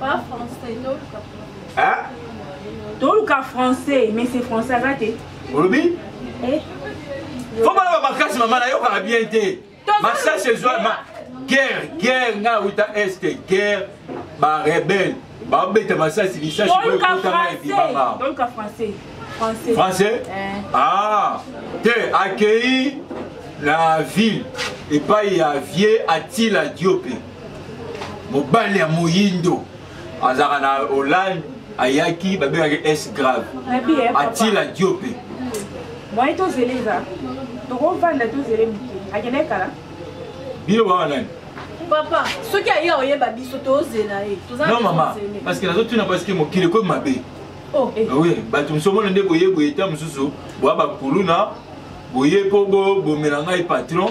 Pas français, non, Hein? toluka français mais c'est français aza te olobi eh? fo balaba makasi mama nayokaka bien te masasi ezwa guerre guerre nga awuta este guerre barebele babeta masasi lisasi ekotama ebibanga français eh. ah te accueilli na ville epai ya vieux atila diope mobali ya moyindo azalaka na hollande ayaki babengaki s grave atila diope mwaye tozela eza tokovanda tozele moke akendaki kala bino baa nani papa soki aye oyeba biso tozela ye non mama parce que nazotuna parce que mokili ekomi mabe oh, eh. ah oui bato mosusu omona nde boye boye ta mosusu boya bakuluna boye mpo bomela ngai patron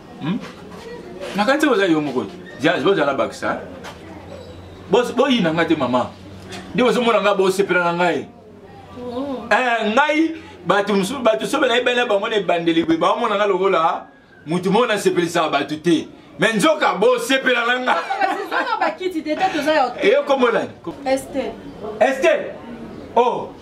hmm? na kati oza yo moko jazz bozala bakisa boyina ngai te mama nde bozomona ngai bosepela na ngai oh. eh, ngai bato mosusu bato soki nayebi bana bango na ebandeli boye baomona ngai lokola moto moko nasepelisaka bato te me nzoka bosepela na nga ekombo nani ester o oh.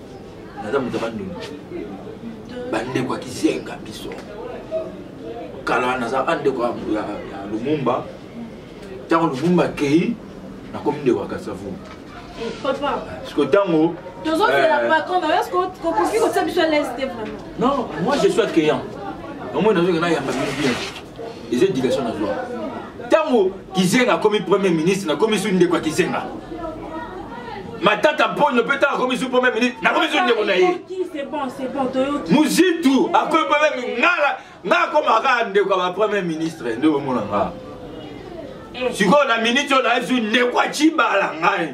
naza moto ya bandundu bandeko ya kizenga biso kala naza bandeko ya lumumba ntango lumumba akei nakomi ndeko ya kasavu siko ntango non moi je suis accueillant omoi nazokenda yamba bino bien eza éducation na zwa ntango kizenga akomi premier ministre nakomi su ndeko ya kizenga matata mponyo mpe ntango akomi su premier ministre nakomi su ndeko na ye muzitu akomi premier ngala nga akoma kaka ndeko ya bapremier ministre nde omona nga eh. sikoyo na miniti oyo nayesu ndeko ya cibala ngai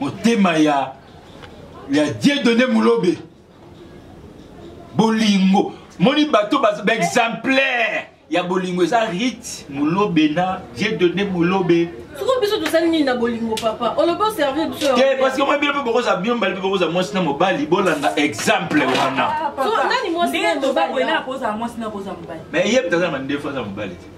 motema ya ya dieudonne mulobe bolingo moni bato baexemplaire ya bolingo eza rite mulobe na dieudonne mulobe soko biso tosali nini na bolingo papa olobi oservir biso te parce que moi bino mpe bokozala bino mbali mpe bokozala mwasi na mobali bolanda exemple wana ah, mais ye mpe azala mandefu aza mobali te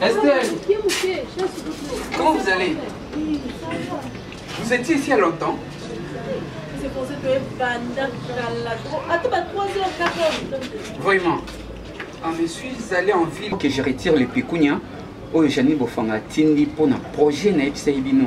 Estelle, comment vous allez Vous étiez ici à longtemps C'est pour ça que Vraiment. Ah, je suis allé en ville. Que je retire les pécunias. oyo jani bofanga atindi mpo na projet na yebisaki bino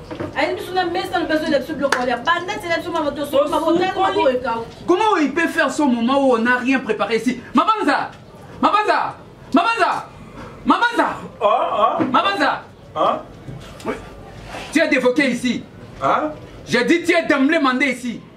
ayebi biso na mesa lobi azoyela biso biloko balia banda tela biso mama tosokomabotanmaboekau comment oyo ipe faire son moment oyo on a rien préparé ici mabanza mabanza mabanza mabanza ah, ah. mabanza ah. tu es dévoqué ici j'ai dit tu es d'emblée mandé ici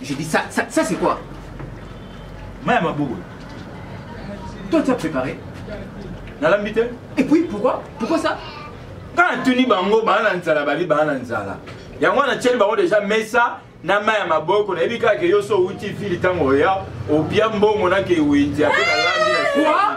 Je dis ça, ça, ça c'est quoi Maya Mabogo. Toi tu as préparé Nalambi te Et puis pourquoi Pourquoi ça Quand natuni bango baa na nzala babi baa na nzala yango wana tieli bango deja mesa na mai ya maboko nayebi kaka ke yo so outi vile ntango oya obia mbongo na ke wenzi ape nalambi na